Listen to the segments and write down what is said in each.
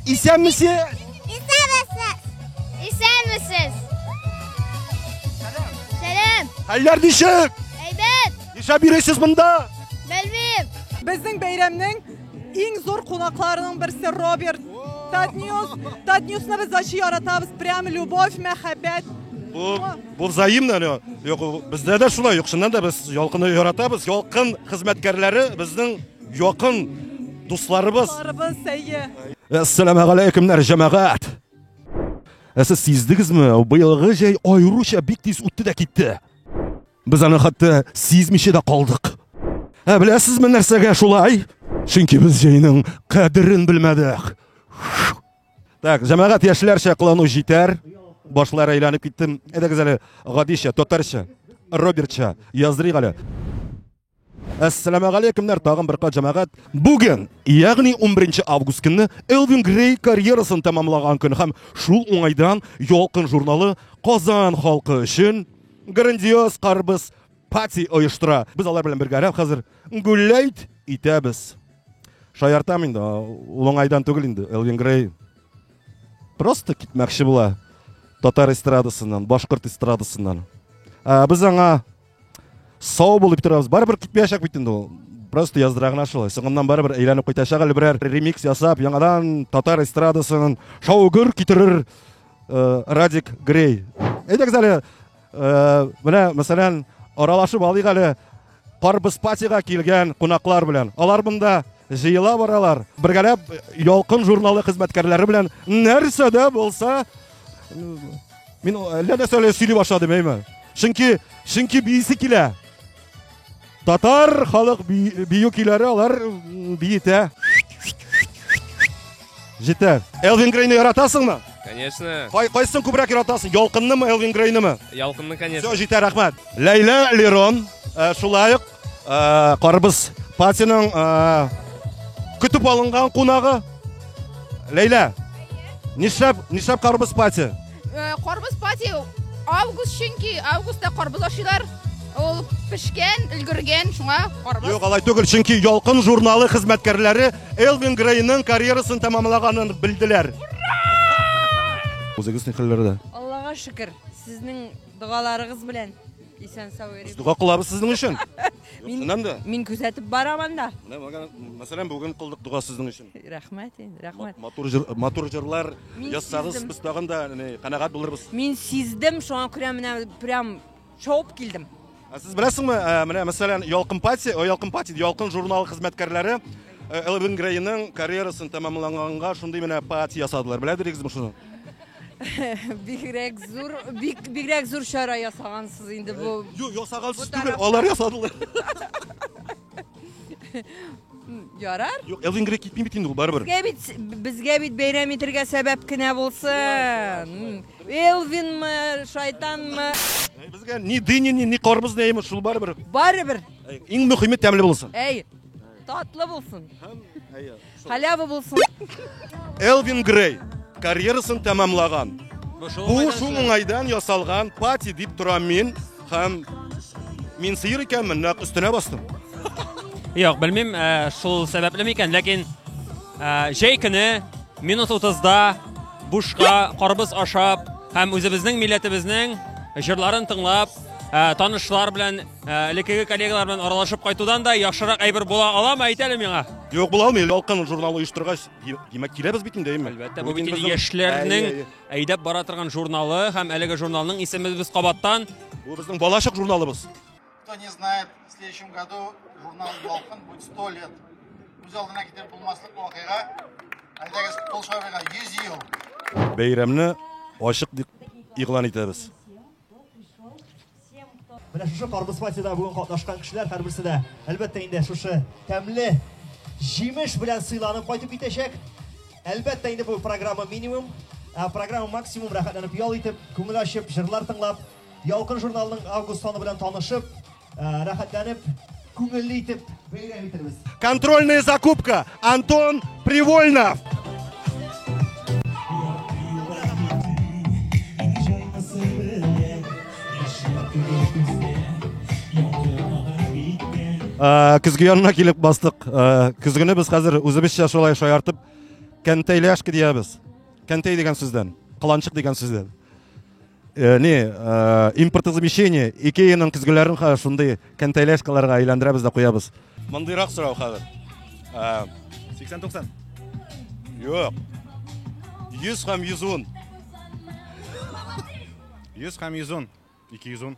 Исәнмесез! Исәнмесез! Исәнмесез! Сәлам! Хәлләр ничек? Әйбәт! Нишләп йөрисез монда? Белмим! Безнең бәйрәмнең иң зур кунакларының берсе Роберт. Татньюс. Татньюсны без ачы яратабыз. Прям любовь, мәхәббәт. Бу, бу взаимно, Лё. Юк, бездә дә шулай, юк, чыннан да без ялкынны яратабыз. Ялкын хезмәткәрләре безнең Якын дусларыбыз. Дусларыбыз, әйе. Әссәламә галәйкемнәр, җәмәгать. Ә сез сиздегезме, быелгы җәй аеруча бик тиз үтте дә китте. Без аны хәтта сизмичә дә калдык. Ә беләсезме нәрсәгә шулай? Чөнки без җәйнең кадерен белмәдек. Так, җәмәгать яшьләрчә кылану җитәр. Башлар әйләнеп киттем. Әйдәгез әле гадичә, татарча, Робертча яздырыйк әле. Әссәламә галәйкемнәр, тагын бер кат җәмәгать. Бүген, ягъни 11 август көнне Элвин Грей карьерасын тәмамлаган көн һәм шул уңайдан Ялкын журналы Казан халкы өчен грандиоз карбыз пати оештыра. Без алар белән бергәрәк хәзер гүлләйт итәбез. Шаяртам инде, ул уңайдан түгел инде. Элвин Грей просто китмәкче була татар эстрадасыннан, башкорт эстрадасыннан. Ә, без аңа сау бул дип торабыз барыбер китмәячәк бит инде ул просто яздыра гына шулай соңыннан барыбер әйләнеп кайтачак әле берәр ремикс ясап яңадан татар эстрадасын шау гөр китерер э, радик грей әйдәгез әле э, менә мәсәлән аралашып алыйк әле карбызпатига килгән кунаклар белән алар монда Җыела баралар. Бергәләп Ялкын журналы хезмәткәрләре белән нәрсә дә булса мин әллә нәрсәләр сөйли башладым, әйме? Чөнки чөнки биисе килә. Татар халык бию көйләре алар биетә. Җитә. Элвин Грейны яратасыңмы? Конечно. Кай кайсын күбрәк яратасың? Ялкыннымы, Элвин Грейнымы? Ялкынны, конечно. Все, җитә, рәхмәт. Ләйлә Лерон, э, шулай ук Э, Карбыз патиның э, көтеп алынган кунагы. Ләйлә. Нишләп, нишләп карбыз пати? Э, карбыз пати август чөнки августта карбыз ашыйлар. Ул пешкән, өлгергән, шуңа карбыз. Юк, алай түгел, чөнки Ялкын журналы хезмәткәрләре Элвин Грейның карьерасын тәмамлаганын белделәр. Үзегез ни хәлләрдә? Аллага шөкер, сезнең догаларыгыз белән. Исән сау йөрик. Дога кылабыз сезнең өчен. Мин да. Мин күзәтеп барам анда. Менә мәсәлән бүген кылдык дога сезнең өчен. Рәхмәт инде, рәхмәт. Матур җыр, матур җырлар язсагыз, без тагын да канәгать булырбыз. Мин сиздем, шуңа күрә менә прям шауып килдем. Ә сез беләсеңме, менә мәсәлән, Ялкын пати, Ялкын пати, Ялкын журналы хезмәткәрләре Элвин Грейның карьерасын тәмамлаганга шундый менә пати ясадылар. Беләдерегезме шуны? бигрәк зур, бик, бигрәк зур чара ясагансыз инде бу. Юк, ясагансыз түгел, алар ясадылар. Ярар. Юк, Элвин Грей китми бит инде ул барыбер. Безгә бит, безгә бит бәйрәм итергә сәбәп кенә булсын. Элвинмы, шайтанмы? Безгә ни дыни, ни, ни карбыз, ни шул барыбер. Барыбер. Иң мөхиме тәмле булсын. Әй, Татлы булсын. Халява булсын. Элвин Грей карьерасын тәмамлаган. Бу шул уңайдан ясалган пати дип торам мин һәм мин сыер икәнмен, нәкъ өстенә бастым. Юк, белмим, э, шул сәбәпле микән, ләкин э, җәй көне минут 30-да бушка карбыз ашап һәм үзебезнең милләтебезнең җырларын тыңлап, э, танышлар белән Ә, элеккеге коллегалар белән аралашып кайтудан да яхшырак әйбер була аламы әйт әле миңа Юк була алмый ялкын журналы оештыргач димәк киләбез бит инде әйме әлбәттә бу бит инде яшьләрнең әйдәп бара торган журналы һәм әлеге журналның исеме без кабаттан бу безнең балачак журналыбыз кто не знает в следующем году журнал ялкын будет сто лет үз алдына китереп булмаслык вакыйга әйдәгез кол шабыйга йөз ел бәйрәмне ачык дип игълан итәбез Менә шушы карбыз фатида бүген катнашкан кешеләр һәрберсе дә, әлбәттә инде шушы тәмле җимеш белән сыйланып кайтып китәчәк. Әлбәттә инде бу программа минимум, ә программа максимум рәхәтләнеп ял итеп, күңел ачып, җырлар тыңлап, Ялкын журналының август саны белән танышып, рәхәтләнеп күңелле итеп бәйрәм итәрбез. Контрольная закупка Антон Привольнов. Э, көзге янына килеп бастык. Э, Көзгене без хәзер үзебезчә шулай шаяртып кәнтәйләшке диябез. Кәнтәй дигән сүздән, кыланчык дигән сүздән. Э, не э, импортозамещение икеяның көзгеләрен хәзер шундый контейляшкаларга әйләндерәбез дә куябыз мондыйрак сорау хәзер э, сиксән туксан юк йөз һәм йөз ун йөз һәм йөз ун ике йөз ун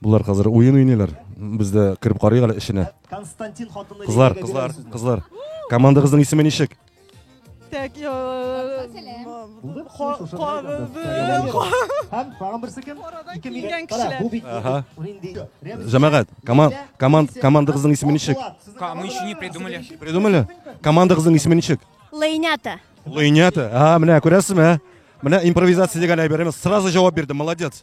Болар хәзер уен уйныйлар. Без дә кереп карыйк әле эченә. Константин хатынлы Кызлар, кызлар, кызлар. Командагызның исеме ничек? Так, я... Һәм тагын берсе кем? Ике миллион кешеләр. Бу бит нинди? Җәмәгать, команд, команд, командагызның исеме ничек? Мы еще не придумали. Придумали? Командагызның исеме ничек? Лейнята. Лейнята. А, менә күрәсезме? Менә импровизация дигән әйберебез. Сразу җавап бирде. Молодец.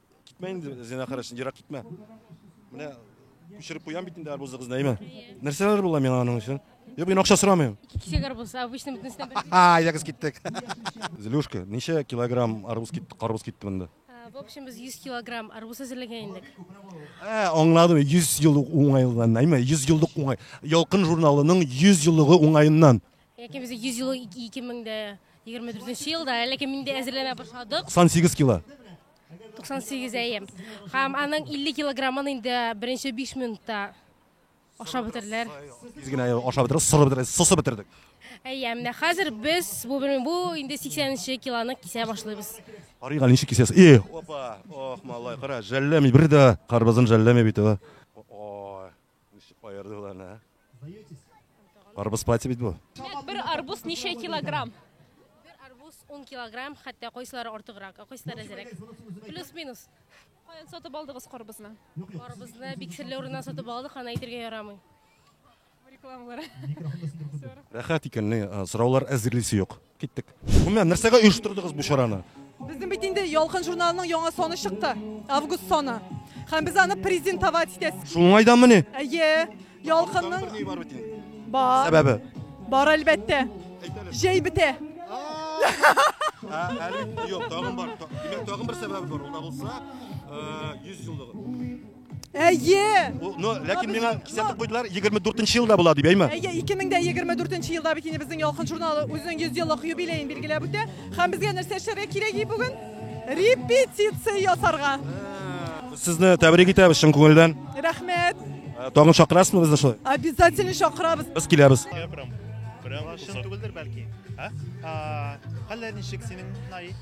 Китмә инде, зина карашын, ерак китмә. Менә күчереп куям бит инде арбузы кызына, әйме? Нәрсәләр була миңа аның өчен? Юк, мин акча сорамыйм. Ике кисәк арбуз, обычно бөтенесенә бер. А, ягыз киттек. Злюшка, ничә килограмм арбуз китте, карбуз китте монда? В общем, без 100 килограмм арбуз әзерләгән идек. Ә, аңладым, 100 еллык уңайлыгыннан, әйме? 100 еллык уңай. Ялкын журналының 100 еллыгы уңаеннан. Яки без 100 ел 2024 елда, әлеге миндә әзерләнә башладык. 98 кило. 98 әйем. Һәм аның 50 килограммын инде беренче 5 минутта ашап бетерделәр. Без генә ашап бетердек, сорып бетердек, сосып бетердек. Әйе, менә хәзер без бу бу инде 80 нче килоны кисә башлыйбыз. Карыйга ничек кисәсез? И, опа, ох, малай, кара, жәлләми бер дә карбызын жәлләми бит ул. Ничек аердылар аны, ә? Сдаетесь? Арбуз пати бит бу. Нет, бер арбуз ничә килограмм? Бер арбуз 10 килограмм, хәтта кайсылары артыграк, ә кайсылары әзрәк. Плюс-минус. Каян сатып алдыгыз карбызны? Арбузны бик серле урыннан сатып алдык, аны әйтергә ярамый. Рекламалар. Рәхәт икән, ни, а, сораулар әзерлисе юк. Киттек. Гомумән, нәрсәгә оештырдыгыз бу чараны? Безнең бит инде Ялкын журналының яңа саны чыкты. Август саны. Һәм без аны презентовать итәбез. Шул уңайданмыни? Әйе. Ялкынның бар. Сәбәбе? Бар әлбәттә. Җәй бетә. Әле юк, тагын бар. Димәк, тагын бер сәбәбе бар. Ул да булса, 100 еллыгы. Әйе! Ну, ләкин миңа кисәтеп куйдылар, 24 нче елда була дип, әйме? Әйе, 2024 нче елда бит инде безнең Ялкын журналы үзенең 100 еллык юбилеен билгеләп үтә. Һәм безгә нәрсә эшләргә кирәк и бүген? Репетиция ясарга. Сезне тәбрик итәбез чын күңелдән. Рәхмәт. Э, тагын чакырасызмы безне шулай? Обязательно чакырабыз. Без киләбез. Прям, прям чын түгелдер бәлки. А? Хәлләр ничек синең, Наи?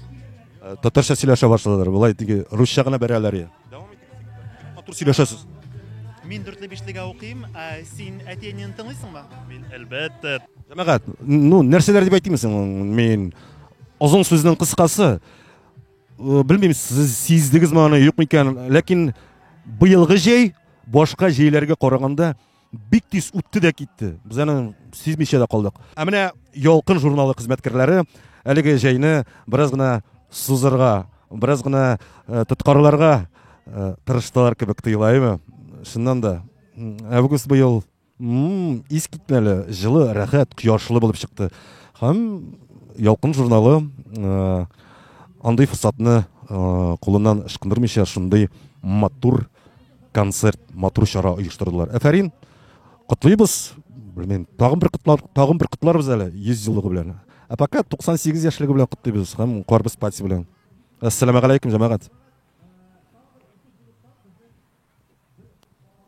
Э, татарча сөйләшә башладылар. Болай теге русча гына бәрәләр. Дәвам итик. Матур сөйләшәсез. Мин дүртле бишлегә укыйм. Ә син әти-әнине тыңлыйсыңмы? Мин әлбәттә. Җәмәгать, ну, нәрсәләр дип әйтимсең? Мин озын сүзнең кыскасы. Э, Белмим, сез сиздегезме аны, юкмы икән, ләкин быелгы җәй башка җәйләргә караганда бик тиз үтте дә китте. Без аны сизмичә дә калдык. Ә менә Ялкын журналы хезмәткәрләре әлеге җәйне бераз гына сузырга, бераз гына э, тоткарларга э, тырыштылар кебек тоела, әйме? Шуннан да август быел ис китмәле, җылы, рәхәт, кояшлы булып чыкты. Һәм Ялкын журналы э, андый форсатны кулыннан ышкындырмыйча шундый матур концерт матур чара оештырдылар әфәрин котлыйбыз белмим тагын бер котлар тагын бер котларбыз әле йөз еллыгы белән ә пока туксан сигез яшьлеге белән котлыйбыз һәм карбыз пати белән әссәламәгаләйкүм җәмәгать